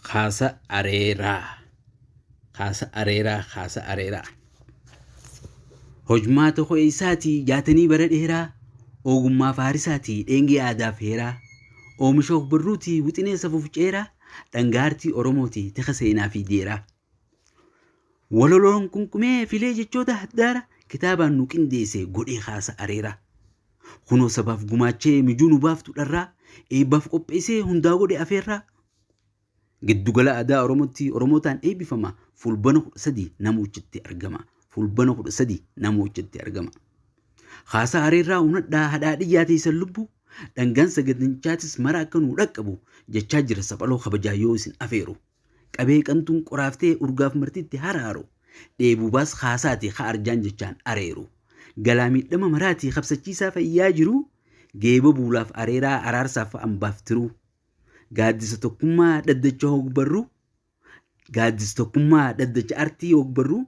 Kaasa areeraa. Kaasa areeraa. Kaasa areeraa. Hojmaata koo eessaatii jaatanii bara dheeraa ogummaa faarisaatii dheengee aadaaf heeraa oomisha ogbarruutii wixinee safuuf ceeraa dhangaartii oromootii tika seenaa fi jeeraa. Walaloon qunqumee filee jechoota haddaara kitaabaan nu qindeesse godhee haasa areera. Kunoo sabaaf gumaachee mijuu nu baaftu dharraa eebbaaf qopheessee hundaa godhe afeerraa. Giddugala aadaa Oromootti Oromootaan eebbifama fulbana 13 namoochitti argama. Fulbana 13 namoochitti argama. Haasa areerraa hunadhaa hadhaa dhiyyaa teessan lubbu dhangaan sagantichaatis mara akka nu dhaqqabu jechaa jira saphaloo kabajaa yoo isin afeeru. Qabee qantuun qoraaftee urgaaf martitti haraaru, dheebuu baas kaasaati ka arjaan jechaan areeru, galaa miidhama maraati kabsachiisaa fayyaa jiruu, geeba buulaaf areeraa araarsaaf fa'ambaaf tiruu. Gaaddisa tokkummaa dhaddacha hogbarruu, gaaddis tokkummaa dhaddacha artii hogbarruu,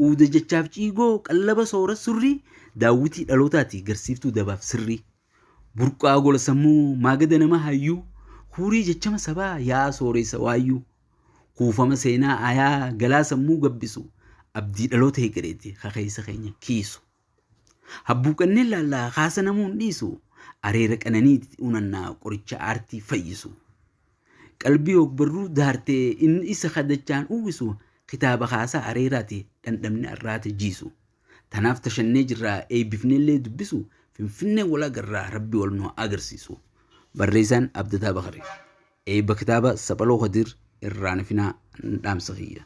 uuda jechaaf ciigoo qallaba soora surrii, daawwitii dhalootaati garsiiftuu dabaaf sirrii. Burqaa gola sammuu maagada nama hayyuu Huurii jechama sabaa yaa sooreysa waayyuu Kuufama seenaa ayaa galaa sammuu gabbisu Abdii dhaloota hegereeti ka keeysa keenya kiisu Habbuuqannee laalla kaasa namuu hin dhiisu Areera qananiiti unanna qoricha aartii fayyisu Qalbii hogbarruu daarte inni isa ka dachaan uwwisu Kitaaba kaasaa areeraati dhandhamni arraata jiisu Tanaaf ta shannee jirraa eeybifneellee dubbisu Finfinnee wal agarraa Rabbi wal nu haa agarsiisu. Barreeysaan Abdataa Bakari. Eeyba kitaaba Saphaloo Khadir irraa hin hafinaa dhaamsa kiyya.